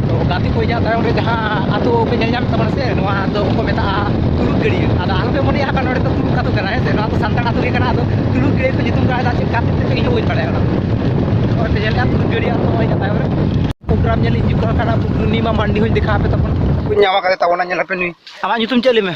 ᱛᱚ ᱜᱟᱛᱮ ᱠᱚ ᱤᱧᱟᱹᱜ ᱛᱟᱭᱚᱢ ᱨᱮ ᱡᱟᱦᱟᱸ ᱟᱛᱳ ᱯᱮ ᱧᱮᱞ ᱧᱟᱢᱮᱫ ᱛᱟᱵᱚᱱᱟ ᱥᱮ ᱱᱚᱣᱟ ᱫᱚ ᱠᱚ ᱢᱮᱛᱟᱜᱼᱟ ᱛᱩᱞᱩᱠ ᱜᱟᱹᱲᱭᱟᱹ ᱟᱫᱚ ᱟᱞᱚᱯᱮ ᱢᱚᱱᱮᱭᱟ ᱦᱟᱸᱜ ᱱᱚᱰᱮ ᱫᱚ ᱛᱩᱞᱩᱠ ᱟᱛᱳ ᱠᱟᱱᱟ ᱦᱮᱸ ᱥᱮ ᱱᱚᱣᱟ ᱫᱚ ᱥᱟᱱᱛᱟᱲ ᱟᱛᱳ ᱜᱮ ᱠᱟᱱᱟ ᱟᱫᱚ ᱛᱩᱞᱩᱠ ᱜᱟᱹᱲᱭᱟᱹ ᱠᱚ ᱧᱩᱛᱩᱢ ᱠᱟᱜᱼᱟ ᱪᱮᱫ ᱠᱟᱛᱮ ᱛᱮ ᱤᱧ ᱦᱚᱸ ᱵᱟᱹᱧ ᱵᱟᱲᱟᱭᱟ ᱚᱱᱟ ᱱᱚᱜᱼᱚᱭ ᱯᱮ ᱧᱮᱞᱮᱫᱼᱟ ᱛᱩᱞᱩᱠ ᱜᱟᱹᱲᱭᱟᱹ ᱟᱛᱳ ᱱᱚᱜᱼᱚᱭ ᱤᱧᱟᱹᱜ ᱛᱟᱭᱚᱢ ᱨᱮ ᱯᱨᱳᱜᱨᱟᱢ ᱧᱮᱞ ᱦᱤᱡᱩᱜ ᱠᱟᱱᱟ ᱯᱩᱨᱱᱤᱢᱟ ᱢᱟᱱᱰᱤ ᱦᱚᱸᱧ ᱫᱮᱠᱷᱟᱣ ᱟᱯᱮ ᱛᱟᱵᱚᱱᱟ ᱧᱟᱢ ᱟᱠᱟᱫᱮ ᱛᱟᱵᱚᱱᱟ ᱧᱮᱞ ᱟᱯᱮ ᱱᱩᱭ ᱟᱢᱟᱜ ᱧᱩᱛᱩᱢ ᱪᱮᱫ ᱞᱟᱹᱭ ᱢᱮ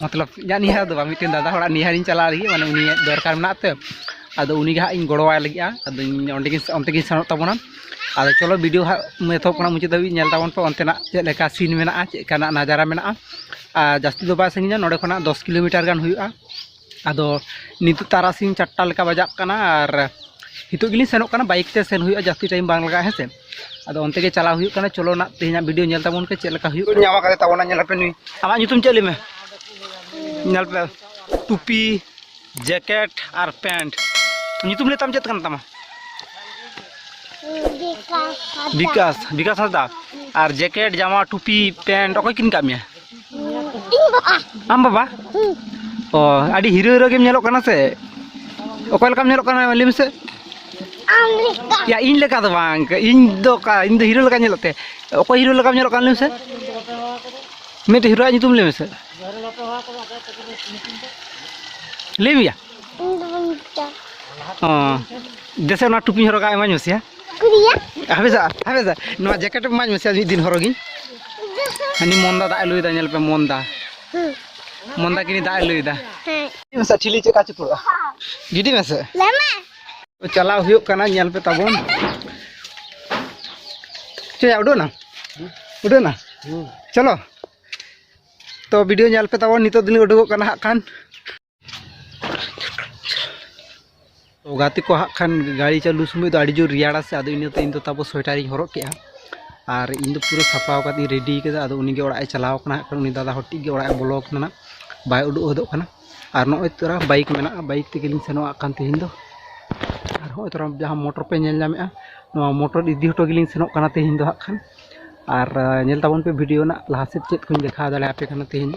ᱢᱚᱛᱞᱚᱵ ᱤᱧᱟᱹᱜ ᱱᱤᱭᱟᱹ ᱫᱚ ᱵᱟᱝ ᱢᱤᱫᱴᱮᱱ ᱫᱟᱫᱟ ᱦᱚᱲᱟᱜ ᱱᱤᱭᱟᱹᱨᱤᱧ ᱪᱟᱞᱟᱜ ᱞᱟᱹᱜᱤᱫ ᱢᱟᱱᱮ ᱩᱱᱤᱭᱟᱜ ᱫᱚᱨᱠᱟᱨ ᱢᱮᱱᱟᱜ ᱛᱮ ᱟᱫᱚ ᱩᱱᱤᱜᱮ ᱦᱟᱸᱜ ᱤᱧ ᱜᱚᱲᱚᱣᱟᱭ ᱞᱟᱹᱜᱤᱫᱼᱟ ᱟᱫᱚ ᱤᱧ ᱚᱸᱰᱮ ᱜᱮ ᱚᱱᱛᱮ ᱜᱮᱧ ᱥᱮᱱᱚᱜ ᱛᱟᱵᱚᱱᱟ ᱟᱫᱚ ᱪᱚᱞᱚ ᱵᱷᱤᱰᱤᱭᱳ ᱦᱟᱸᱜ ᱮᱛᱚᱦᱚᱵ ᱠᱷᱚᱱᱟᱜ ᱢᱩᱪᱟᱹᱫ ᱫᱷᱟᱹᱵᱤᱡ ᱧᱮᱞ ᱛᱟᱵᱚᱱ ᱯᱮ ᱚᱱᱛᱮᱱᱟᱜ ᱪᱮᱫ ᱞᱮᱠᱟ ᱥᱤᱱ ᱢᱮᱱᱟᱜᱼᱟ ᱪᱮᱫ ᱞᱮᱠᱟᱱᱟᱜ ᱱᱟᱡᱟᱨᱟ ᱢᱮᱱᱟᱜᱼᱟ ᱟᱨ ᱡᱟᱹᱥᱛᱤ ᱫᱚ ᱵᱟᱭ ᱥᱟᱺᱜᱤᱧᱟ ᱱᱚᱰᱮ ᱠᱷᱚᱱᱟᱜ ᱫᱚᱥ ᱠᱤᱞᱳᱢᱤᱴᱟᱨ ᱜᱟᱱ ᱦᱩᱭᱩᱜᱼᱟ ᱟᱫᱚ ᱱᱤᱛᱚᱜ ᱛᱟᱨᱟᱥᱤᱧ ᱪᱟᱨᱴᱟ ᱞᱮᱠᱟ ᱵᱟᱡᱟᱜ ᱠᱟᱱᱟ ᱟᱨ ᱱᱤᱛᱚᱜ ᱜᱮᱞᱤᱧ ᱥᱮᱱᱚᱜ ᱠᱟᱱᱟ ᱵᱟᱭᱤᱠ ᱛᱮ ᱥᱮᱱ ᱦᱩᱭᱩᱜᱼᱟ ᱡᱟᱹᱥᱛᱤ ᱴᱟᱭᱤᱢ ᱵᱟᱝ ᱞᱟᱜᱟᱜᱼᱟ ᱦᱮᱸ ᱥᱮ ᱟᱫᱚ ᱚᱱᱛᱮ ᱜᱮ ᱪᱟᱞᱟᱣ ᱦᱩᱭᱩᱜ ᱠᱟᱱᱟ ᱪᱚᱞᱚ ᱱᱟᱜ ᱛᱮᱦᱮᱧᱟᱜ ᱵᱷᱤᱰᱤᱭᱳ ᱧᱮᱞ ᱛᱟᱵᱚᱱ ᱯᱮ ᱪᱮᱫ ᱞᱮᱠᱟ ᱦᱩᱭᱩᱜ ᱧᱟᱢ ᱟᱠᱟᱫ ᱛᱟᱵᱚᱱᱟ ᱧᱮᱞ ᱯᱮ ᱱᱩᱭ ᱟᱢᱟᱜ ᱧᱩᱛᱩᱢ ᱪᱮᱫ ᱞᱟᱹᱭ ᱢᱮ ᱧᱮᱞ ᱯᱮ ᱴᱩᱯᱤ ᱡᱮᱠᱮᱴ ᱟᱨ ᱯᱮᱱᱴ ᱧᱩᱛᱩᱢ ᱞᱟᱹᱭ ᱛᱟᱢ ᱪᱮᱫ ᱠᱟᱱ ᱛᱟᱢᱟ ᱵᱤᱠᱟᱥ ᱵᱤᱠᱟᱥ ᱦᱟᱸᱥᱫᱟ ᱟᱨ ᱡᱮᱠᱮᱴ ᱡᱟᱢᱟ ᱴᱩᱯᱤ ᱯᱮᱱᱴ ᱚᱠᱚᱭ ᱠᱤᱨᱤᱧ ᱠᱟᱜ ᱢᱮᱭᱟ ᱤᱧ ᱵᱟᱵᱟ ᱟᱢ ᱵᱟᱵᱟ ᱚ ᱟᱹᱰᱤ ᱦᱤᱨᱟᱹ ᱦᱤᱨᱟᱹ ᱜᱮᱢ ᱧᱮᱞᱚᱜ ᱠᱟᱱᱟ ᱥᱮ ᱚᱠᱚᱭ ᱞᱮᱠᱟᱢ ᱧᱮᱞᱚᱜ ᱠᱟᱱᱟ ᱞᱟᱹᱭ ᱢᱮᱥᱮ ᱟᱢ ᱞᱮᱠᱟ ᱭᱟ ᱤᱧ ᱞᱮᱠᱟ ᱫᱚ ᱵᱟᱝ ᱤᱧ ᱫᱚ ᱚᱠᱟ ᱤᱧ ᱫᱚ ᱦᱤᱨᱳ ᱞᱮᱠᱟ ᱧᱮᱞᱚᱜ ᱛᱮ ᱚᱠᱚᱭ ᱦᱤᱨᱳ ᱞᱮᱠᱟᱢ ᱧᱮᱞᱚᱜ ᱠᱟᱱᱟ ᱞᱟᱹᱭ ᱢᱮᱥᱮ ᱢᱤᱫᱴᱮᱡ ᱦᱤᱨᱳᱣᱟᱜ ᱧᱩᱛᱩᱢ ᱞᱟᱹᱭ ᱢᱮᱥᱮ ᱞᱟᱹᱭ ᱢᱮᱭᱟ ᱫᱮᱥᱮ ᱱᱚᱣᱟ ᱴᱩᱯᱤ ᱦᱚᱨᱚᱜᱟ ᱮᱢᱟᱧ ᱢᱮᱥᱮ ᱦᱮᱸ ᱦᱟᱯᱮᱥᱟ ᱦᱟᱯᱮᱥᱟ ᱱᱚᱣᱟ ᱡᱮᱠᱮᱴ ᱮᱢᱟᱧ ᱢᱮᱥᱮ ᱢᱤᱫ ᱫᱤᱱ ᱦᱚᱨᱚᱜᱤᱧ ᱦᱟᱹᱱᱤ ᱢᱚᱱᱫᱟ ᱫᱟᱜ ᱮ ᱞᱩᱭᱮᱫᱟ ᱧᱮᱞ ᱯᱮ ᱢᱚᱱᱫᱟ ᱢᱚᱱᱫᱟ ᱠᱤᱱᱤ ᱫᱟᱜ ᱮ ᱞᱩᱭᱮᱫᱟ ᱢᱮᱥᱟ ᱴᱷᱤᱞᱤ ᱪᱮᱫ ᱠᱟ ᱪᱩᱯᱩᱲᱟ ᱜᱤᱰᱤ ᱢᱮᱥᱮ ᱪᱟᱞᱟᱣ ᱦᱩᱭᱩᱜ ᱠᱟᱱᱟ ᱧᱮᱞ ᱯᱮ ᱛᱟᱵᱚᱱ ᱪᱮᱫ ᱩᱰᱩᱠ ᱱᱟ ᱩᱰᱩᱠ ᱱᱟ ᱪᱚᱞᱚ ᱛᱚ ᱵᱷᱤᱰᱤᱭᱳ ᱧᱮᱞ ᱯᱮ ᱛᱟᱵᱚᱱ ᱱᱤᱛᱚᱜ ᱫᱚᱞᱤᱧ ᱩᱰᱩᱠᱚᱜ ᱠᱟᱱᱟ ᱦᱟᱸᱜ ᱠᱷᱟᱱ ᱛᱚ ᱜᱟᱛᱮ ᱠᱚ ᱦᱟᱸᱜ ᱠᱷᱟᱱ ᱜᱟᱹᱲᱤ ᱪᱟᱹᱞᱩ ᱥᱚᱢᱚᱭ ᱫᱚ ᱟᱹᱰᱤ ᱡᱳᱨ ᱨᱮᱭᱟᱲᱟ ᱥᱮ ᱟᱫᱚ ᱤᱱᱟᱹᱛᱮ ᱤᱧ ᱫᱚ ᱛᱟᱯᱚᱨ ᱥᱳᱭᱮᱴᱟᱨᱤᱧ ᱦᱚᱨᱚᱜ ᱠᱮᱜᱼᱟ ᱟᱨ ᱤᱧ ᱫᱚ ᱯᱩᱨᱟᱹ ᱥᱟᱯᱲᱟᱣ ᱠᱟᱛᱮᱧ ᱨᱮᱰᱤ ᱠᱟᱫᱟ ᱟᱫᱚ ᱩᱱᱤ ᱜᱮ ᱚᱲᱟᱜ ᱮ ᱪᱟᱞᱟᱣ ᱠᱟᱱᱟ ᱦᱟᱸᱜ ᱠᱷᱟᱱ ᱩᱱᱤ ᱫᱟᱫᱟ ᱦᱚᱲ ᱴᱤᱡ ᱜᱮ ᱚᱲᱟᱜ ᱮ ᱵᱚᱞᱚ ᱠᱟᱱᱟ ᱱᱟᱜ ᱵᱟᱭ ᱩᱰᱩᱠ ᱦᱚᱫᱚᱜ ᱠᱟᱱᱟ ᱟᱨ ᱱᱚᱜᱼᱚᱭ ᱛᱚᱨᱟ ᱵᱟᱭᱤᱠ ᱢᱮᱱᱟᱜᱼᱟ ᱵᱟᱭᱤᱠ ᱛᱮᱜᱮᱞᱤᱧ ᱥᱮᱱᱚᱜ ᱦᱟᱸᱜ ᱠᱷᱟᱱ ᱛᱮᱦᱮᱧ ᱫᱚ ᱟᱨ ᱱᱚᱜᱼᱚᱭ ᱛᱚᱨᱟ ᱡᱟᱦᱟᱸ ᱢᱚᱴᱚᱨ ᱯᱮ ᱧᱮᱞ ᱧᱟᱢᱮᱜᱼᱟ ᱱᱚᱣᱟ ᱢᱚᱴᱚᱨ ᱤᱫᱤ ᱦᱚᱴᱚ ᱜᱮᱞᱤᱧ ᱥᱮᱱᱚᱜ ᱠᱟᱱᱟ ᱛᱮᱦᱮᱧ ᱫᱚ ᱦᱟᱸᱜ ᱠᱷᱟᱱ ᱟᱨ ᱧᱮᱞ ᱛᱟᱵᱚᱱ ᱯᱮ ᱵᱷᱤᱰᱤᱭᱳ ᱨᱮᱱᱟᱜ ᱞᱟᱦᱟ ᱥᱮᱫ ᱪᱮᱫ ᱠᱚᱧ ᱫᱮᱠᱷᱟᱣ ᱫᱟᱲᱮᱭᱟᱯᱮ ᱠᱟᱱᱟ ᱛᱮᱦᱮᱧ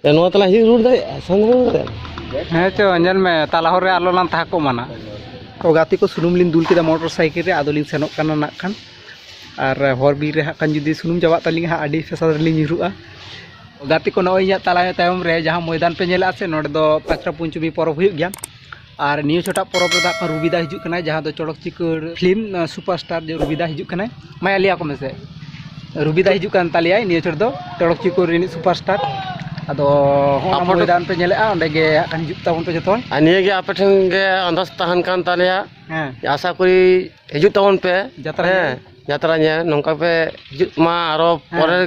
ᱱᱚᱣᱟ ᱛᱟᱞᱟ ᱦᱤᱡᱩᱜ ᱨᱩᱣᱟᱹᱲ ᱫᱟᱲᱮᱭᱟᱜᱼᱟ ᱥᱟᱢᱱᱟ ᱨᱩᱣᱟᱹᱲ ᱫᱟᱲᱮᱭᱟᱜᱼᱟ ᱦᱮᱸ ᱪᱚ ᱧᱮᱞ ᱢᱮ ᱛᱟᱞᱟ ᱦᱚᱨ ᱨᱮ ᱟᱞᱚ ᱞᱟᱝ ᱛᱟᱦᱮᱸ ᱠᱚᱜ ᱢᱟᱱᱟ ᱛᱚ ᱜᱟᱛᱮ ᱠᱚ ᱥᱩᱱᱩᱢ ᱞᱤᱧ ᱫᱩᱞ ᱠᱮᱫᱟ ᱢᱚᱴᱚᱨ ᱥᱟᱭᱠᱮᱞ ᱨᱮ ᱟᱫᱚ ᱞᱤᱧ ᱥᱮᱱᱚᱜ ᱠᱟᱱᱟ ᱱᱟᱜ ᱠᱷᱟᱱ ᱟᱨ ᱦᱚᱨ ᱵᱤᱨ ᱨᱮ ᱦᱟᱸᱜ ᱠᱷᱟᱱ ᱡᱩᱫᱤ ᱥᱩᱱᱩᱢ ᱪᱟᱵᱟᱜ ᱛᱟᱹᱞᱤᱧᱟ ᱦᱟᱸᱜ ᱟᱹᱰᱤ ᱯᱷᱮᱥᱟᱞ ᱨᱮᱞᱤᱧ ᱧᱩᱨᱩᱜᱼᱟ ᱜᱟᱛᱮ ᱠᱚ ᱱᱚᱜᱼᱚᱭ ᱤᱧᱟᱹᱜ ᱛᱟᱞᱟ ᱛᱟᱭᱚᱢ ᱨᱮ ᱡᱟᱦᱟᱸ ᱢᱚᱭᱫᱟᱱ ᱯᱮ ᱧᱮᱞᱮᱫᱼᱟ ᱥᱮ ᱱᱚᱸᱰᱮ ᱫᱚ ᱯᱟᱛᱨᱟ ᱯᱚᱧᱪᱚᱢᱤ ᱯᱚᱨᱚᱵᱽ ᱦᱩᱭᱩᱜ ᱜᱮᱭᱟ ᱟᱨ ᱱᱤᱭᱟᱹ ᱪᱷᱚᱴᱟ ᱯᱚᱨᱚᱵᱽ ᱨᱮᱫᱚ ᱦᱟᱸᱜ ᱨᱩᱵᱤᱫᱟ ᱦᱤᱡᱩᱜ ᱠᱟᱱᱟᱭ ᱡᱟᱦᱟᱸ ᱫᱚ ᱪᱚᱲᱚᱠ ᱪᱤᱠᱟᱹᱲ ᱯᱷᱤᱞᱢ ᱥᱩᱯᱟᱨᱥᱴᱟᱨ ᱡᱮ ᱨᱩᱵᱤᱫᱟ ᱦᱤᱡᱩᱜ ᱠᱟᱱᱟᱭ ᱢᱟᱭᱟ ᱞᱟᱹᱭ ᱟᱠᱚ ᱢᱮᱥᱮ ᱨᱩᱵᱤᱫᱟ ᱦᱤᱡᱩᱜ ᱠᱟᱱ ᱛᱟᱞᱮᱭᱟᱭ ᱱᱤᱭᱟᱹ ᱪᱷᱚᱴ ᱫᱚ ᱪᱚᱲᱚᱠ ᱪᱤᱠᱟᱹᱲ ᱨᱤᱱᱤᱡ ᱥᱩᱯᱟᱨᱥᱴᱟᱨ ᱟᱫᱚ ᱦᱚᱸ ᱢᱚᱭᱫᱟᱱ ᱯᱮ ᱧᱮᱞᱮᱜᱼᱟ ᱚᱸᱰᱮ ᱜᱮ ᱦᱟᱸᱜ ᱠᱷᱟᱱ ᱦᱤᱡᱩᱜ ᱛᱟᱵᱚᱱ ᱯᱮ ᱡᱚᱛᱚ ᱟᱨ ᱱᱤᱭᱟᱹ ᱜᱮ ᱟᱯᱮ ᱴᱷᱮᱱ ᱜᱮ ᱟᱱᱫᱟᱡᱽ ᱛᱟᱦᱮᱱ ᱠᱟᱱ ᱛᱟᱞᱮᱭᱟ ᱦᱮᱸ ᱟᱥᱟ ᱠᱚᱨᱤ ᱦᱤᱡᱩᱜ ᱛᱟᱵᱚᱱ ᱯᱮ ᱡᱟᱛᱨᱟ ᱧᱮᱞ ᱡᱟᱛᱨᱟ ᱧᱮᱞ ᱱᱚᱝᱠᱟ ᱯᱮ ᱦᱤᱡᱩᱜ ᱢᱟ ᱟᱨᱚ ᱯᱚᱨᱮ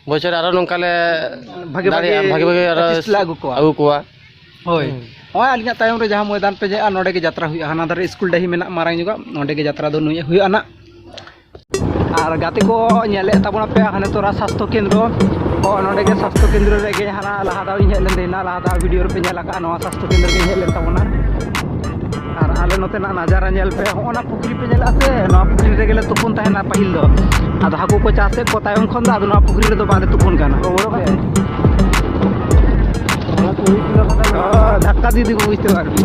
ᱵᱚᱪᱷᱚᱨ ᱟᱨᱚ ᱱᱚᱝᱠᱟ ᱞᱮ ᱵᱷᱟᱜᱮ ᱵᱷᱟᱜᱮ ᱫᱟᱲᱮᱭᱟᱜᱼᱟ ᱵᱷᱟᱜᱮ ᱵᱷᱟᱜᱮ ᱟᱨᱚ artist ᱞᱮ ᱟᱹᱜᱩ ᱠᱚᱣᱟ᱾ ᱟᱹᱜᱩ ᱠᱚᱣᱟ ᱦᱳᱭ ᱱᱚᱜᱼᱚᱭ ᱟᱹᱞᱤᱧᱟᱜ ᱛᱟᱭᱚᱢ ᱨᱮ ᱡᱟᱦᱟᱸ ᱢᱚᱭᱫᱟᱱ ᱯᱮ ᱧᱮᱞᱟ ᱱᱚᱸᱰᱮ ᱜᱮ ᱡᱟᱛᱨᱟ ᱦᱩᱭᱩᱜᱼᱟ ᱦᱟᱱᱟ ᱫᱷᱟᱨᱮ ᱥᱠᱩᱞ ᱰᱟᱹᱦᱤ ᱢᱮᱱᱟᱜᱼᱟ ᱢᱟᱨᱟᱝ ᱧᱚᱜᱟᱜ ᱱᱚᱸᱰᱮ ᱜᱮ ᱡᱟᱛᱨᱟ ᱫᱚ ᱱᱩᱭ ᱦᱩᱭᱩᱜᱼᱟ ᱱᱟᱜ ᱟᱨ ᱜᱟᱛᱮ ᱠᱚ ᱧᱮᱞᱮᱫ ᱛᱟᱵᱚᱱᱟ ᱯᱮ ᱦᱟᱱᱮ ᱛᱚᱨᱟ ᱥᱟᱥᱛᱷᱚ ᱠᱮᱱᱫᱨᱚ ᱠᱚ ᱱᱚᱸᱰᱮ ᱜᱮ ᱥᱟᱥᱛᱷᱚ ᱠᱮᱱᱫᱨᱚ ᱨᱮᱜᱮ ᱦᱟᱱᱟ ᱞᱟᱦᱟ ᱫᱷᱟᱣ ᱤᱧ ᱦᱮᱡ ᱞᱮᱱ ᱛᱟᱦᱮᱱᱟ ᱞᱟᱦᱟ ᱫᱷᱟᱣ ᱵᱷᱤᱰᱤᱭᱳ ᱨᱮᱯᱮ ᱧᱮᱞ ᱟᱠᱟᱫᱼᱟ ᱱᱚᱣᱟ ᱥᱟᱥᱛᱷᱚ ᱠᱮᱱᱫᱨᱚ ᱜᱮᱧ ᱦᱮᱡ ᱞᱮᱱ ᱛᱟᱵᱚᱱᱟ ᱟᱨ ᱟᱞᱮ ᱱᱚᱛᱮᱱᱟᱜ ᱱᱟᱡᱟᱨᱟ ᱧᱮᱞ ᱯᱮ ᱦᱚᱸᱜᱼᱚ ᱱᱟ ᱯᱩᱠᱷᱨᱤ ᱯᱮ ᱧᱮᱞᱮᱫᱼᱟ ᱥᱮ ᱱᱚᱣᱟ ᱯᱩᱠᱷᱨᱤ ᱨᱮᱜᱮ ᱞᱮ ᱛᱩᱯᱩᱱ ᱛᱟᱦᱮᱱᱟ ᱯᱟᱹᱦᱤᱞ ᱫᱚ ᱟᱫᱚ ᱦᱟᱹᱠᱩ ᱠᱚ ᱪᱟᱥᱮᱫ ᱠᱚ ᱛᱟᱭᱚᱢ ᱠᱷᱚᱱ ᱫᱚ ᱟᱫᱚ ᱱᱚᱣᱟ ᱯᱩᱠᱷᱨᱤ ᱨᱮᱫᱚ ᱵᱟᱞᱮ ᱛᱩᱯᱩᱱ ᱠᱟᱱᱟ ᱫᱷᱟᱠᱠᱟ ᱫᱤᱫᱤ ᱠᱚ ᱵᱩᱡᱽ ᱛᱮ ᱟᱨᱠᱤ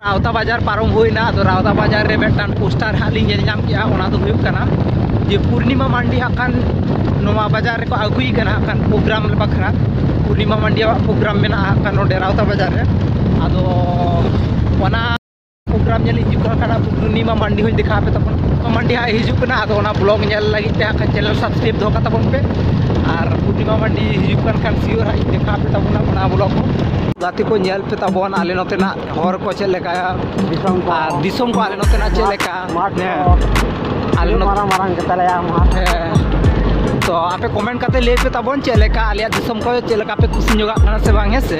ᱨᱟᱣᱛᱟ ᱵᱟᱡᱟᱨ ᱯᱟᱨᱚᱢ ᱦᱩᱭᱱᱟ ᱟᱫᱚ ᱨᱟᱣᱛᱟ ᱵᱟᱡᱟᱨ ᱨᱮ ᱢᱤᱫᱴᱟᱝ ᱯᱳᱥᱴᱟᱨ ᱦᱟᱸᱜ ᱞᱤᱧ ᱧᱮᱞ ᱧᱟᱢ ᱠᱮᱜᱼᱟ ᱚᱱᱟ ᱫᱚ ᱦᱩᱭᱩᱜ ᱠᱟᱱᱟ ᱡᱮ ᱯᱩᱨᱱᱤᱢᱟ ᱢᱟᱱᱰᱤ ᱦᱟᱸᱜ ᱠᱷᱟᱱ ᱱᱚᱣᱟ ᱵᱟᱡᱟᱨ ᱨᱮᱠᱚ ᱟᱹᱜᱩᱭ ᱠᱟᱱᱟ ᱦᱟᱸᱜ ᱠᱷᱟᱱ ᱯᱨᱳᱜᱨᱟᱢ ᱵᱟᱠᱷᱨᱟ ᱯᱩᱨᱱᱤᱢᱟ ᱢᱟᱱᱰᱤᱭᱟᱜ ᱯᱨᱳᱜᱨᱟᱢ ᱢᱮᱱᱟᱜᱼᱟ ᱦᱟᱸᱜ ᱠᱷᱟᱱ ᱱᱚᱰᱮ ᱨᱟᱣᱛᱟ ᱵᱟᱡᱟᱨ ᱨᱮ ᱟᱫᱚ ᱚᱱᱟ ᱯᱨᱳᱜᱨᱟᱢ ᱧᱮᱞ ᱤᱧ ᱦᱤᱡᱩᱜ ᱠᱟᱱᱟ ᱯᱩᱨᱱᱤᱢᱟ ᱢᱟᱱᱰᱤ ᱦᱚᱸᱧ ᱫᱮᱠᱷᱟᱣ ᱟᱯᱮ ᱛᱟᱵᱚᱱ ᱢᱟᱱᱰᱤ ᱦᱟᱸᱜ ᱦᱤᱡᱩᱜ ᱠᱟᱱᱟ ᱟᱫᱚ ᱚᱱᱟ ᱵᱞᱚᱜ ᱧᱮᱞ ᱞᱟᱹᱜᱤᱫ ᱛᱮ ᱦᱟᱸᱜ ᱠᱷᱟᱱ ᱪᱮᱱᱮᱞ ᱥᱟᱵᱥᱠᱨᱟᱭᱤᱵ ᱫᱚᱦᱚ ᱠᱟᱜ ᱛᱟᱵᱚᱱ ᱯᱮ ᱟᱨ ᱯᱩᱨᱱᱤᱢᱟ ᱢᱟᱱᱰᱤ ᱦᱤᱡᱩᱜ ᱠᱟᱱ ᱠᱷᱟᱱ ᱥᱤᱭᱳᱨ ᱦᱟᱸᱜ ᱤᱧ ᱫᱮᱠᱷᱟᱣ ᱟᱯᱮ ᱛᱟᱵᱚᱱᱟ ᱚᱱᱟ ᱵᱞᱚᱜ ᱦᱚᱸ ᱜᱟᱛᱮ ᱠᱚ ᱧᱮᱞ ᱯᱮ ᱛᱟᱵᱚᱱ ᱟᱞᱮ ᱱᱚᱛᱮᱱᱟᱜ ᱦᱚᱨ ᱠᱚ ᱪᱮᱫ ᱞᱮᱠᱟ ᱫᱤᱥᱚᱢ ᱠᱚ ᱟᱨ ᱫᱤᱥᱚᱢ ᱠᱚ ᱟᱞᱮ ᱱᱚᱛᱮᱱᱟᱜ ᱪᱮᱫ ᱞᱮᱠᱟ ᱢᱟᱴᱷ ᱦᱮᱸ ᱠᱚ ᱟᱞᱮ ᱟᱹᱰᱤ ᱱᱚᱛᱮ ᱢᱟᱨᱟᱝ ᱢᱟᱨᱟᱝ ᱜᱮᱛᱟᱞᱮᱭᱟ ᱢᱟᱴᱷ ᱦᱮᱸ ᱛᱚ ᱟᱯᱮ ᱠᱚᱢᱮᱱᱴ ᱠᱟᱛᱮ ᱞᱟᱹᱭ ᱯᱮ ᱛᱟᱵᱚᱱ ᱪᱮᱫ ᱞᱮᱠᱟ ᱟᱞᱮᱭᱟᱜ ᱫᱤᱥᱚᱢ ᱠᱚ ᱪᱮᱫ ᱞᱮᱠᱟ ᱯᱮ ᱠᱩᱥᱤ ᱧᱚᱜᱟᱜ ᱠᱟᱱᱟ ᱥᱮ ᱵᱟᱝ ᱦᱮᱸ ᱥᱮ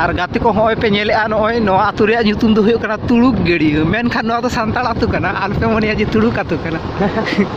ᱟᱨ ᱜᱟᱛᱮ ᱠᱚ ᱦᱚᱸᱜᱼᱚᱭ ᱯᱮ ᱧᱮᱞᱮᱜᱼᱟ ᱱᱚᱜᱼᱚᱭ ᱱᱚᱣᱟ ᱟᱹᱛᱩ ᱨᱮᱭᱟᱜ ᱧᱩᱛᱩᱢ ᱫᱚ ᱦᱩᱭᱩᱜ ᱠᱟᱱᱟ ᱛᱩᱲᱩᱠ ᱜᱟᱹᱲᱭᱟᱹ ᱢᱮᱱᱠᱷᱟᱱ ᱱᱚᱣᱟ ᱫᱚ ᱥᱟᱱᱛᱟᱲ ᱟᱹᱛᱩ ᱠᱟᱱᱟ ᱟᱞᱚᱯᱮ ᱢᱚᱱᱮᱭᱟ ᱡᱮ ᱛᱩᱲᱩᱠ ᱟᱹᱛᱩ ᱠᱟᱱᱟ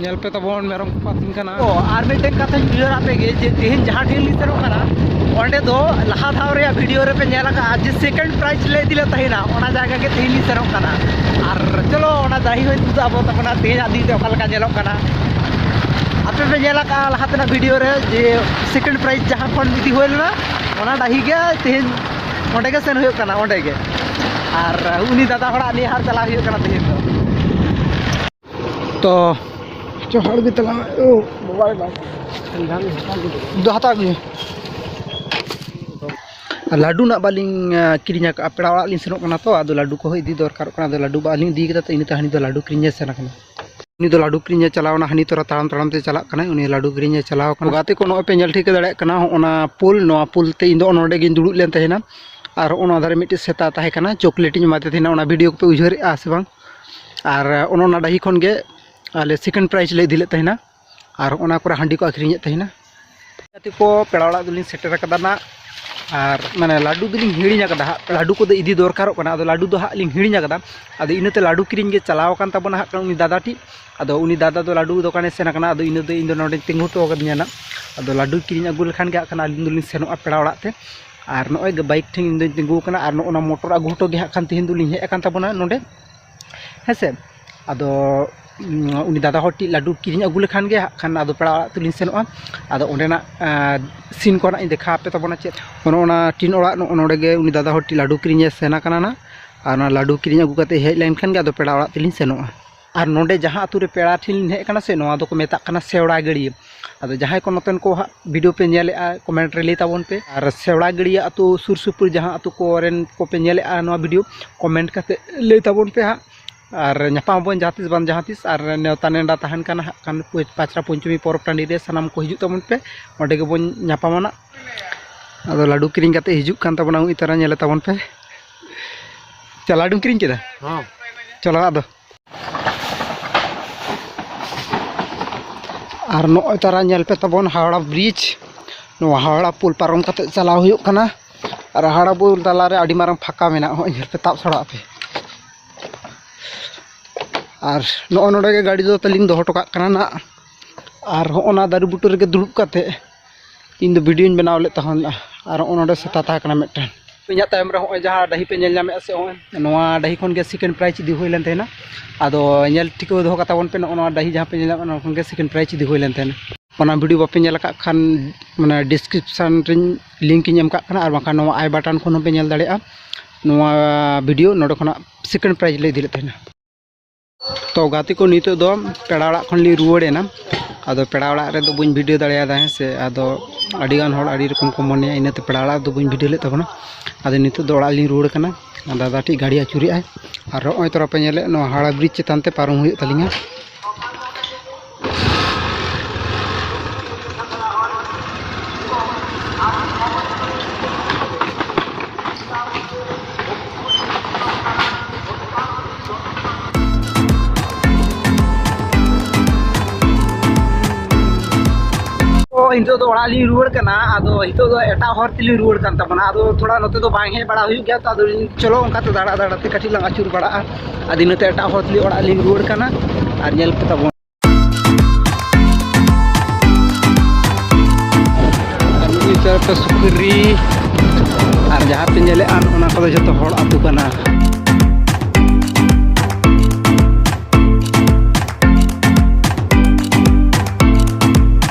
ᱧᱮᱞ ᱯᱮ ᱛᱟᱵᱚᱱ ᱢᱮᱨᱚᱢ ᱠᱚ ᱟᱹᱛᱤᱧ ᱠᱟᱱᱟ ᱚ ᱟᱨ ᱢᱤᱫᱴᱮᱱ ᱠᱟᱛᱷᱟᱧ ᱩᱭᱦᱟᱹᱨ ᱟᱯᱮ ᱜᱮ ᱡᱮ ᱛᱮᱦᱮᱧ ᱡᱟᱦᱟᱸ ᱴᱷᱮᱱ ᱞᱤᱧ ᱥᱮᱱᱚᱜ ᱠᱟᱱᱟ ᱚᱸᱰᱮ ᱫᱚ ᱞᱟᱦᱟ ᱫᱷᱟᱣ ᱨᱮᱭᱟᱜ ᱵᱷᱤᱰᱤᱭᱳ ᱨᱮᱯᱮ ᱧᱮᱞ ᱟᱠᱟᱫᱼᱟ ᱡᱮ ᱥᱮᱠᱮᱱᱰ ᱯᱨᱟᱭᱤᱡᱽ ᱞᱮ ᱤᱫᱤ ᱞᱮᱫ ᱛᱟᱦᱮᱱᱟ ᱚᱱᱟ ᱡᱟᱭᱜᱟ ᱜᱮ ᱛᱮᱦᱮᱧ ᱞᱤᱧ ᱥᱮᱱᱚᱜ ᱠᱟᱱᱟ ᱟᱨ ᱪᱚᱞᱚ ᱚᱱᱟ ᱰᱟᱹᱦᱤ ᱦᱚᱸᱧ ᱩᱫᱩᱜ ᱟᱵᱚᱱ ᱛᱟᱵᱚᱱᱟ ᱛᱮᱦᱮᱧᱟᱜ ᱫᱤᱱ ᱨᱮ ᱚᱠᱟ ᱞᱮᱠᱟ ᱧᱮᱞᱚᱜ ᱠᱟᱱᱟ ᱟᱯᱮ ᱯᱮ ᱧᱮᱞ ᱟᱠᱟᱫᱼᱟ ᱞᱟᱦᱟ ᱛᱮᱱᱟᱜ ᱵᱷᱤᱰᱤᱭᱳ ᱨᱮ ᱡᱮ ᱥᱮᱠᱮᱱᱰ ᱯᱨᱟᱭᱤᱡᱽ ᱡᱟᱦᱟᱸ ᱠᱷᱚᱱ ᱤᱫᱤ ᱦᱩᱭ ᱞᱮᱱᱟ ᱚᱱᱟ ᱰᱟᱹᱦᱤ ᱜᱮ ᱛᱮᱦᱮᱧ ᱚᱸᱰᱮ ᱜᱮ ᱥᱮᱱ ᱦᱩᱭᱩᱜ ᱠᱟᱱᱟ ᱚᱸᱰᱮ ᱜᱮ ᱟᱨ ᱩᱱᱤ ᱫᱟᱫᱟ ᱦᱚᱲᱟᱜ ᱱᱤᱭᱟᱹ ᱦᱟᱴ ᱪᱟᱞᱟᱣ ᱦᱩᱭᱩᱜ ᱠᱟᱱᱟ ᱛᱮᱦᱮᱧ ᱫᱚ ᱛᱚ ᱪᱚᱦᱟᱲ ᱜᱮ ᱛᱟᱞᱟᱝ ᱳ ᱵᱟᱵᱟ ᱨᱮ ᱵᱟᱵᱟ ᱫᱚ ᱦᱟᱛᱟᱣ ᱟᱹᱜᱩᱭ ᱞᱟᱹᱰᱩ ᱱᱟᱜ ᱵᱟᱹᱞᱤᱧ ᱠᱤᱨᱤᱧ ᱟᱠᱟᱫᱼᱟ ᱯᱮᱲᱟ ᱚᱲᱟᱜ ᱞᱤᱧ ᱥᱮᱱᱚᱜ ᱠᱟᱱᱟ ᱛᱚ ᱟᱫᱚ ᱞᱟᱹᱰᱩ ᱠᱚᱦᱚᱸ ᱤᱫᱤ ᱫᱚᱨᱠᱟᱨᱚᱜ ᱠᱟᱱᱟ ᱟᱫᱚ ᱞᱟᱹᱰᱩ ᱵᱟᱹᱞᱤᱧ ᱤᱫᱤ ᱠᱟᱫᱟ ᱛᱚ ᱤᱱᱟᱹᱛᱮ ᱦᱟᱹᱱᱤ ᱫᱚ ᱞᱟᱹᱰᱩ ᱠᱤᱨᱤᱧᱮ ᱥᱮᱱ ᱠᱟᱱᱟ ᱩᱱᱤ ᱫᱚ ᱞᱟᱹᱰᱩ ᱠᱤᱨᱤᱧᱮ ᱪᱟᱞᱟᱣᱱᱟ ᱦᱟᱹᱱᱤ ᱛᱚᱨᱟ ᱛᱟᱲᱟᱢ ᱛᱟᱲᱟᱢ ᱛᱮ ᱪᱟᱞᱟᱜ ᱠᱟᱱᱟᱭ ᱩᱱᱤ ᱞᱟᱹᱰᱩ ᱠᱤᱨᱤᱧᱮ ᱪᱟᱞᱟᱣ ᱠᱟᱱᱟ ᱜᱟᱛᱮ ᱠᱚ ᱱᱚᱜᱼᱚᱭ ᱯᱮ ᱧᱮᱞ ᱴᱷᱤᱠᱟᱹ ᱫᱟᱲᱮᱭᱟᱜ ᱠᱟᱱᱟ ᱚᱱᱟ ᱯᱩᱞ ᱱᱚᱣᱟ ᱯᱩᱞ ᱛᱮ ᱤᱧ ᱫᱚ ᱱᱚᱰᱮ ᱜᱤᱧ ᱫᱩᱲᱩᱵ ᱞᱮᱱ ᱛᱟᱦᱮᱱᱟ ᱟᱨ ᱚᱱᱟ ᱫᱷᱟᱨᱮ ᱢᱤᱫᱴᱤᱡ ᱥᱮᱛᱟ ᱛᱟᱦᱮᱸ ᱠᱟᱱᱟ ᱪᱚᱠᱞᱮᱴ ᱤᱧ ᱮᱢᱟᱫᱮ ᱛᱟᱦᱮᱱᱟ ᱚᱱᱟ ᱵᱷᱤᱰᱤᱭᱳ ᱠᱚᱯᱮ ᱩᱭᱦᱟᱹᱨᱮᱜᱼᱟ ᱥᱮ ᱵᱟᱝ ᱟᱨ ᱚᱱᱟ ᱰᱟᱹᱦᱤ ᱠᱷᱚᱱ ᱜᱮ ᱟᱞᱮ ᱥᱮᱠᱮᱱᱰ ᱯᱨᱟᱭᱤᱡᱽ ᱞᱮ ᱤᱫᱤ ᱞᱮᱫ ᱛᱟᱦᱮᱱᱟ ᱟᱨ ᱚᱱᱟ ᱠᱚᱨᱮ ᱦᱟᱺᱰᱤ ᱠᱚ ᱟᱹᱠᱷᱨᱤᱧᱮᱫ ᱛᱟᱦᱮᱱᱟ ᱜᱟᱛᱮ ᱠᱚ ᱯᱮᱲᱟ ᱚᱲᱟᱜ ᱫᱚᱞᱤᱧ ᱥᱮᱴᱮᱨ ᱟᱠᱟᱫᱟ ᱱᱟᱜ ᱟᱨ ᱢᱟᱱᱮ ᱞᱟᱹᱰᱩ ᱫᱚᱞᱤᱧ ᱦᱤᱲᱤᱧ ᱟᱠᱟᱫᱟ ᱦᱟᱸᱜ ᱞᱟᱹᱰᱩ ᱠᱚᱫᱚ ᱤᱫᱤ ᱫᱚᱨᱠᱟᱨᱚᱜ ᱠᱟᱱᱟ ᱟᱫᱚ ᱞᱟᱹᱰᱩ ᱫᱚ ᱦᱟᱸᱜ ᱞᱤᱧ ᱦᱤᱲᱤᱧ ᱟᱠᱟᱫᱟ ᱟᱫᱚ ᱤᱱᱟᱹᱛᱮ ᱞᱟᱹᱰᱩ ᱠᱤᱨᱤᱧ ᱜᱮ ᱪᱟᱞᱟᱣ ᱟᱠᱟᱱ ᱛᱟᱵᱚᱱᱟ ᱦᱟᱸᱜ ᱩᱱᱤ ᱫᱟᱫᱟ ᱴᱤᱡ ᱟᱫᱚ ᱩᱱᱤ ᱫᱟᱫᱟ ᱫᱚ ᱞᱟᱹᱰᱩ ᱫᱚᱠᱟᱱᱮ ᱥᱮᱱ ᱟᱠᱟᱱᱟ ᱟᱫᱚ ᱤᱱᱟᱹ ᱫᱚ ᱤᱧ ᱫᱚ ᱱᱚᱰᱮᱧ ᱛᱤᱸᱜᱩ ᱦᱚᱴᱚ ᱟᱠᱟᱫᱤᱧᱟ ᱱᱟᱜ ᱟᱫᱚ ᱞᱟᱹᱰᱩ ᱠᱤᱨᱤᱧ ᱟᱹᱜᱩ ᱞᱮᱠᱷᱟᱱ ᱜᱮ ᱦᱟᱸᱜ ᱠᱷᱟᱱ ᱟᱹᱞᱤᱧ ᱫᱚᱞᱤᱧ ᱥᱮᱱᱚᱜᱼᱟ ᱯᱮᱲᱟ ᱚᱲᱟᱜ ᱛᱮ ᱟᱨ ᱱᱚᱜᱼᱚᱭ ᱵᱟᱭᱤᱠ ᱴᱷᱮᱱ ᱤᱧ ᱫᱚᱧ ᱛᱤᱸᱜᱩ ᱟᱠᱟᱱᱟ ᱟᱨ ᱱᱚᱜᱼᱚ ᱱᱚᱣᱟ ᱢᱚᱴᱚᱨ ᱟᱹᱜᱩ ᱦᱚᱴᱚ ᱜᱮ ᱦᱟᱸᱜ ᱠᱷᱟᱱ ᱛᱮᱦᱮᱧ ᱫᱚᱞᱤᱧ ᱦᱮᱡ ᱟᱠᱟᱱ ᱛᱟᱵᱚᱱᱟ ᱱᱚᱰᱮ ᱦᱮᱸᱥᱮ ᱟᱫᱚ ᱩᱱᱤ ᱫᱟᱫᱟ ᱦᱚᱲ ᱴᱷᱮᱱ ᱞᱟᱹᱰᱩ ᱠᱤᱨᱤᱧ ᱟᱹᱜᱩ ᱞᱮᱠᱷᱟᱱ ᱜᱮ ᱦᱟᱸᱜ ᱠᱷᱟᱱ ᱟᱫᱚ ᱯᱮᱲᱟ ᱚᱲᱟᱜ ᱛᱮᱞᱤᱧ ᱥᱮᱱᱚᱜᱼᱟ ᱟᱫᱚ ᱚᱸᱰᱮᱱᱟᱜ ᱥᱤᱱ ᱠᱚ ᱱᱟᱜ ᱤᱧ ᱫᱮᱠᱷᱟᱣ ᱟᱯᱮ ᱛᱟᱵᱚᱱᱟ ᱪᱮᱫ ᱚᱱᱮ ᱚᱱᱟ ᱴᱤᱱ ᱚᱲᱟᱜ ᱱᱚᱜᱼᱚ ᱱᱚᱰᱮ ᱜᱮ ᱩᱱᱤ ᱫᱟᱫᱟ ᱦᱚᱲ ᱴᱷᱮᱱ ᱞᱟᱹᱰᱩ ᱠᱤᱨᱤᱧᱮ ᱥᱮᱱ ᱟᱠᱟᱱᱟ ᱱᱟᱜ ᱟᱨ ᱚᱱᱟ ᱞᱟᱹᱰᱩ ᱠᱤᱨᱤᱧ ᱟᱹᱜᱩ ᱠᱟᱛᱮᱫ ᱦᱮᱡ ᱞᱮᱱᱠᱷᱟᱱ ᱜᱮ ᱟᱫᱚ ᱯᱮᱲᱟ ᱚᱲᱟᱜ ᱛᱮᱞᱤᱧ ᱥᱮᱱᱚᱜᱼᱟ ᱟᱨ ᱱᱚᱰᱮ ᱡᱟᱦᱟᱸ ᱟᱛᱳ ᱨᱮ ᱯᱮᱲᱟ ᱴᱷᱮᱱ ᱞᱤᱧ ᱦᱮᱡ ᱠᱟᱱᱟ ᱥᱮ ᱱᱚᱣᱟ ᱫᱚᱠᱚ ᱢᱮᱛᱟᱜ ᱠᱟᱱᱟ ᱥᱮᱣᱲᱟ ᱜᱟᱹᱲᱭᱟᱹ ᱟᱫᱚ ᱡᱟᱦᱟᱸᱭ ᱠᱚ ᱱᱚᱛᱮᱱ ᱠᱚ ᱦᱟᱸᱜ ᱵᱷᱤᱰᱤᱭᱳ ᱯᱮ ᱧᱮᱞᱮᱜᱼᱟ ᱠᱚᱢᱮᱱᱴ ᱨᱮ ᱞᱟᱹᱭ ᱛᱟᱵᱚᱱ ᱯᱮ ᱟᱨ ᱥᱮᱣᱲᱟ ᱜᱟᱹᱲᱭᱟᱹ ᱟᱛᱳ ᱥᱩᱨ ᱥᱩᱯᱩᱨ ᱡᱟᱦᱟᱸ ᱟᱛᱳ ᱠᱚᱨᱮᱱ ᱠᱚᱯᱮ ᱧᱮᱞᱮᱜᱼᱟ ᱱᱚᱣᱟ ᱵᱷᱤᱰᱤᱭᱳ ᱠᱚᱢᱮᱱᱴ ᱠᱟᱛᱮ ᱞᱟᱹᱭ ᱛᱟᱵᱚᱱ ᱯᱮ ᱦᱟᱸᱜ ᱟᱨ ᱧᱟᱯᱟᱢ ᱟᱵᱚᱱ ᱡᱟᱦᱟᱸ ᱛᱤᱥ ᱵᱟᱝ ᱡᱟᱦᱟᱸ ᱛᱤᱥ ᱟᱨ ᱱᱮᱣᱛᱟ ᱱᱮᱰᱟ ᱛᱟᱦᱮᱱ ᱠᱟᱱᱟ ᱦᱟᱸᱜ ᱠᱷᱟᱱ ᱯᱟᱪᱨᱟ ᱯᱚᱧᱪᱚᱢᱤ ᱯᱚᱨᱚᱵᱽ ᱴᱟᱺᱰᱤ ᱨᱮ ᱥᱟᱱᱟᱢ ᱠᱚ ᱦᱤᱡᱩᱜ ᱛᱟᱵᱚᱱ ᱯᱮ ᱚᱸᱰᱮ ᱜᱮᱵᱚᱱ ᱧᱟᱯᱟᱢᱟ ᱱᱟᱜ ᱟᱫᱚ ᱞᱟᱹᱰᱩ ᱠᱤᱨᱤᱧ ᱠᱟᱛᱮ ᱦᱤᱡᱩᱜ ᱠᱟᱱ ᱛᱟᱵᱚᱱᱟ ᱩᱱᱤ ᱛᱟᱨᱟ ᱧᱮᱞᱮ ᱛᱟᱵᱚᱱ ᱯᱮ ᱪᱟ ᱞᱟᱹᱰᱩᱢ ᱠᱤᱨᱤᱧ ᱠᱮᱫᱟ ᱦᱚᱸ ᱪᱚᱞᱚ ᱟᱫᱚ ᱟᱨ ᱱᱚᱜᱼᱚᱭ ᱛᱟᱨᱟ ᱧᱮᱞ ᱯᱮ ᱛᱟᱵᱚᱱ ᱦᱟᱣᱲᱟ ᱵᱨᱤᱡᱽ ᱱᱚᱣᱟ ᱦᱟᱣᱲᱟ ᱯᱩᱞ ᱯᱟᱨᱚᱢ ᱠᱟᱛᱮ ᱪᱟᱞᱟᱣ ᱦᱩᱭᱩᱜ ᱠᱟᱱᱟ ᱟᱨ ᱦᱟᱣᱲᱟ ᱯᱩᱞ ᱛᱟᱞᱟᱨᱮ ᱟᱹᱰᱤ ᱢᱟᱨᱟᱝ ᱯᱷᱟᱸᱠᱟ ᱢᱮᱱᱟᱜᱼᱟ ᱱᱚᱜᱼᱚᱭ ᱧᱮᱞ ᱯᱮ ᱛᱟᱵ ᱥᱟᱲᱟᱜ ᱯᱮ ᱟᱨ ᱱᱚᱜᱼᱚᱭ ᱱᱚᱰᱮ ᱜᱮ ᱜᱟᱹᱰᱤ ᱫᱚ ᱛᱟᱹᱞᱤᱧ ᱫᱚᱦᱚ ᱦᱚᱴᱚ ᱠᱟᱜ ᱠᱟᱱᱟ ᱱᱟᱜ ᱟᱨ ᱦᱚᱸᱜᱼᱚ ᱱᱟ ᱫᱟᱨᱮ ᱵᱩᱴᱟᱹ ᱨᱮᱜᱮ ᱫᱩᱲᱩᱵ ᱠᱟᱛᱮ ᱤᱧ ᱫᱚ ᱵᱷᱤᱰᱤᱭᱳᱧ ᱵᱮᱱᱟᱣ ᱞᱮᱫ ᱛᱟᱦᱮᱱ ᱟᱨ ᱱᱚᱜᱼᱚ ᱱᱚᱰᱮ ᱥᱮᱛᱟ ᱛᱟᱦᱮᱸ ᱠᱟᱱᱟ ᱢᱤᱫᱴᱮᱱ ᱤᱧᱟᱹᱜ ᱛᱟᱭᱚᱢ ᱨᱮ ᱱᱚᱜᱼᱚᱭ ᱡᱟᱦᱟᱸ ᱰᱟᱹᱦᱤ ᱯᱮ ᱧᱮᱞ ᱧᱟᱢᱮᱫᱼᱟ ᱥᱮ ᱱᱚᱜᱼᱚᱭ ᱱᱚᱣᱟ ᱰᱟᱹᱦᱤ ᱠᱷᱚᱱ ᱜᱮ ᱥᱮᱠᱮᱱᱰ ᱯᱨᱟᱭᱤᱡᱽ ᱤᱫᱤ ᱦᱩᱭ ᱞᱮᱱ ᱛᱟᱦᱮᱱᱟ ᱟᱫᱚ ᱧᱮᱞ ᱴᱷᱤᱠᱟᱹ ᱫᱚᱦᱚ ᱠᱟᱛᱟ ᱵᱚᱱ ᱯᱮ ᱱᱚᱜᱼᱚ ᱱᱚᱣᱟ ᱰᱟᱹᱦᱤ ᱡᱟᱦᱟᱸ ᱯᱮ ᱧᱮᱞ ᱧᱟᱢᱮᱫᱼᱟ ᱱᱚᱣᱟ ᱠᱷᱚᱱ ᱜᱮ ᱥᱮᱠᱮᱱᱰ ᱯᱨᱟᱭᱤᱡᱽ ᱤᱫᱤ ᱦᱩᱭ ᱞᱮᱱ ᱛᱟᱦᱮᱱᱟ ᱚᱱᱟ ᱵᱷᱤᱰᱤᱭᱳ ᱵᱟᱯᱮ ᱧᱮᱞ ᱟᱠᱟᱫ ᱠᱷᱟᱱ ᱢᱟᱱᱮ ᱰᱤᱥᱠᱨᱤᱯᱥᱚᱱ ᱨᱮᱧ ᱞᱤᱝᱠ ᱤᱧ ᱮᱢ ᱠᱟᱜ ᱠᱟᱱᱟ ᱟᱨ ᱵᱟᱝᱠᱷᱟᱱ ᱱᱚᱣᱟ ᱟᱭ ᱵᱟᱴᱚᱱ ᱠᱷᱚᱱ ᱦᱚᱸᱯᱮ ᱧᱮᱞ ᱫᱟᱲᱮᱭᱟᱜᱼᱟ ᱱᱚᱣᱟ ᱵᱷᱤᱰᱤᱭᱳ ᱱᱚᱰᱮ ᱠᱷᱚᱱᱟᱜ ᱥᱮᱠᱮᱱᱰ ᱯᱨᱟᱭᱤᱡᱽ ᱞᱮ ᱤᱫᱤ ᱞᱮᱫ ᱛᱟᱦᱮᱱᱟ ᱛᱚ ᱜᱟᱛᱮ ᱠᱚ ᱱᱤᱛᱚᱜ ᱫᱚ ᱯᱮᱲᱟ ᱚᱲᱟᱜ ᱠᱷᱚᱱ ᱞᱤᱧ ᱨᱩᱣᱟᱹᱲ ᱮᱱᱟ ᱟᱫᱚ ᱯᱮᱲᱟ ᱚᱲᱟᱜ ᱨᱮᱫᱚ ᱵᱟᱹᱧ ᱵᱷᱤᱰᱤᱭᱳ ᱫᱟᱲᱮᱭᱟᱫᱟ ᱦᱮᱸ ᱥᱮ ᱟᱫᱚ ᱟᱹᱰᱤ ᱜᱟᱱ ᱦᱚᱲ ᱟᱹᱰᱤ ᱨᱚᱠᱚᱢ ᱠᱚ ᱢᱚᱱᱮᱭᱟ ᱤᱱᱟᱹᱛᱮ ᱯᱮᱲᱟ ᱚᱲᱟᱜ ᱫᱚ ᱵᱟᱹᱧ ᱵᱷᱤᱰᱤᱭᱳ ᱞᱮᱫ ᱛᱟᱵᱚᱱᱟ ᱟᱫᱚ ᱱᱤᱛᱚᱜ ᱫᱚ ᱚᱲᱟᱜ ᱞᱤᱧ ᱨᱩᱣᱟᱹᱲ ᱠᱟᱱᱟ ᱫᱟᱫᱟ ᱴᱷᱮᱡ ᱜᱟᱹᱰᱤ ᱟᱹᱪᱩᱨᱮᱜᱼᱟᱭ ᱟᱨ ᱱᱚᱜᱼᱚᱭ ᱛᱚᱨᱟ ᱯᱮ ᱧᱮᱞᱮᱫ ᱱᱚᱣᱟ ᱦᱟᱣᱲᱟ ᱵᱨᱤᱡᱽ ᱪᱮᱛᱟᱱ ᱛᱮ ᱯᱟᱨᱚᱢ ᱦᱩᱭᱩᱜ ᱛᱟᱹᱞᱤᱧᱟ ᱱᱤᱛᱚᱜ ᱫᱚ ᱚᱲᱟᱜ ᱞᱤᱧ ᱨᱩᱣᱟᱹᱲ ᱠᱟᱱᱟ ᱟᱫᱚ ᱱᱤᱛᱚᱜ ᱫᱚ ᱮᱴᱟᱜ ᱦᱚᱨ ᱛᱮᱞᱤᱧ ᱨᱩᱣᱟᱹᱲ ᱠᱟᱱ ᱛᱟᱵᱚᱱᱟ ᱟᱫᱚ ᱛᱷᱚᱲᱟ ᱱᱚᱛᱮ ᱫᱚ ᱵᱟᱝ ᱦᱮᱡ ᱵᱟᱲᱟ ᱦᱩᱭᱩᱜ ᱜᱮᱭᱟ ᱛᱚ ᱟᱫᱚ ᱪᱚᱞᱚ ᱚᱱᱠᱟᱛᱮ ᱫᱟᱬᱟ ᱫᱟᱬᱟᱛᱮ ᱠᱟᱹᱴᱤᱡ ᱞᱟᱝ ᱟᱹᱪᱩᱨ ᱵᱟᱲᱟᱜᱼᱟ ᱟᱫᱚ ᱤᱱᱟᱹᱛᱮ ᱮᱴᱟᱜ ᱦᱚᱲ ᱛᱩᱞᱩᱡ ᱚᱲᱟᱜ ᱞᱤᱧ ᱨᱩᱣᱟᱹᱲ ᱠᱟᱱᱟ ᱟᱨ ᱧᱮᱞ ᱯᱮ ᱛᱟᱵᱚᱱ ᱪᱟᱨᱯᱮ ᱥᱩᱠᱨᱤ ᱟᱨ ᱡᱟᱦᱟᱸ ᱯᱮ ᱧᱮᱞᱮᱫᱼᱟ ᱚᱱᱟ ᱠᱚᱫᱚ ᱡᱚᱛᱚ ᱦᱚᱲ ᱟᱹᱛᱩ ᱠᱟᱱᱟ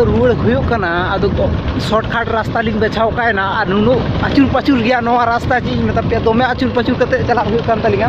ᱫᱚ ᱨᱩᱣᱟᱹᱲ ᱦᱩᱭᱩᱜ ᱠᱟᱱᱟ ᱟᱫᱚ ᱥᱚᱨᱴᱠᱟᱴ ᱨᱟᱥᱛᱟ ᱞᱤᱧ ᱵᱟᱪᱷᱟᱣ ᱠᱟᱜᱼᱟ ᱟᱨ ᱱᱩᱱᱟᱹᱜ ᱟᱹᱪᱩᱨ ᱯᱟᱹᱪᱩᱨ ᱜᱮᱭᱟ ᱱᱚᱣᱟ ᱨᱟᱥᱛᱟ ᱪᱮᱫ ᱤᱧ ᱢᱮᱛᱟ ᱯᱮᱭᱟ ᱫᱚᱢᱮ ᱟᱹᱪᱩᱨ ᱯᱟᱹᱪᱩᱨ ᱠᱟᱛᱮᱫ ᱪᱟᱞᱟᱜ ᱦᱩᱭᱩᱜ ᱠᱟᱱ ᱛᱟᱹᱞᱤᱧᱟ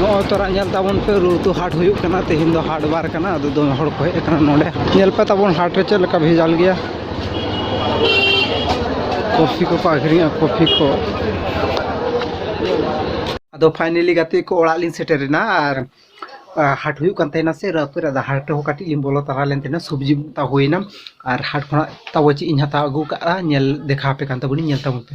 ᱱᱚᱜᱼᱚᱭ ᱛᱚᱨᱟ ᱧᱮᱞ ᱛᱟᱵᱚᱱ ᱯᱮ ᱨᱩᱛᱩ ᱦᱟᱴ ᱦᱩᱭᱩᱜ ᱠᱟᱱᱟ ᱛᱮᱦᱮᱧ ᱫᱚ ᱦᱟᱴ ᱵᱟᱨ ᱠᱟᱱᱟ ᱟᱫᱚ ᱫᱚᱢᱮ ᱦᱚᱲ ᱠᱚ ᱦᱮᱡ ᱟᱠᱟᱱᱟ ᱱᱚᱰᱮ ᱧᱮᱞ ᱯᱮ ᱛᱟᱵᱚᱱ ᱦᱟᱴ ᱨᱮ ᱪᱮᱫ ᱞᱮᱠᱟ ᱵᱷᱮᱡᱟᱞ ᱜᱮᱭᱟ ᱠᱚᱯᱷᱤ ᱠᱚᱠᱚ ᱟᱹᱠᱷᱨᱤᱧᱟ ᱠᱚᱯᱷᱤ ᱠᱚ ᱟᱫᱚ ᱯᱷᱟᱭᱱᱮᱞᱤ ᱜᱟᱛᱮ ᱠᱚ ᱚᱲᱟᱜ ᱞᱤᱧ ᱥᱮᱴᱮᱨᱮᱱᱟ ᱟᱨ ᱦᱟᱴ ᱦᱩᱭᱩᱜ ᱠᱟᱱ ᱛᱟᱦᱮᱱᱟ ᱥᱮ ᱨᱟᱹᱯᱩᱫ ᱨᱮ ᱦᱟᱴ ᱦᱚᱸ ᱠᱟᱹᱴᱤᱡ ᱞᱤᱧ ᱵᱚᱞᱚ ᱛᱟᱨᱟ ᱞᱮᱱ ᱛᱟᱦᱮᱱᱟ ᱥᱚᱵᱽᱡᱤ ᱛᱟ ᱦᱩᱭᱱᱟ ᱟᱨ ᱦᱟᱴ ᱠᱷᱚᱱᱟᱜ ᱛᱟᱵᱚ ᱪᱮᱫ ᱤᱧ ᱦᱟᱛᱟᱣ ᱟᱹᱜᱩ ᱠᱟᱜᱼᱟ ᱧᱮᱞ ᱫᱮᱠᱷᱟᱣ ᱟᱯᱮ ᱠᱟᱱ ᱛᱟᱵᱚᱱᱤᱧ ᱧᱮᱞ ᱛᱟᱵᱚᱱ ᱯᱮ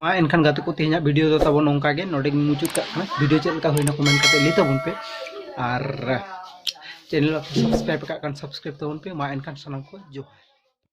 ᱢᱟ ᱮᱱᱠᱷᱟᱱ ᱜᱟᱛᱮ ᱠᱚ ᱛᱮᱦᱮᱧᱟᱜ ᱵᱷᱤᱰᱤᱭᱳ ᱫᱚ ᱛᱟᱵᱚᱱ ᱱᱚᱝᱠᱟ ᱜᱮ ᱱᱚᱰᱮ ᱜᱮ ᱢᱩᱪᱟᱹᱫ ᱠᱟᱜ ᱠᱟᱱᱟ ᱵᱷᱤᱰᱤᱭᱳ ᱪᱮᱫ ᱞᱮᱠᱟ ᱦᱩᱭᱱᱟ ᱠᱚᱢᱮᱱᱴ ᱠᱟᱛᱮ ᱞᱟᱹᱭ ᱛᱟᱵᱚᱱ ᱯᱮ ᱟᱨ ᱪᱮᱱᱮᱞ ᱥᱟᱵᱥᱠᱨᱟᱭᱤᱵ ᱠᱟᱜ ᱠᱟᱱ ᱥᱟᱵᱥᱠᱨᱟᱭᱤᱵ ᱛᱟᱵᱚᱱ ᱯᱮ ᱢᱟ ᱮᱱᱠᱷᱟᱱ ᱥᱟᱱᱟᱢ ᱠᱚ ᱡᱚᱦᱟᱨ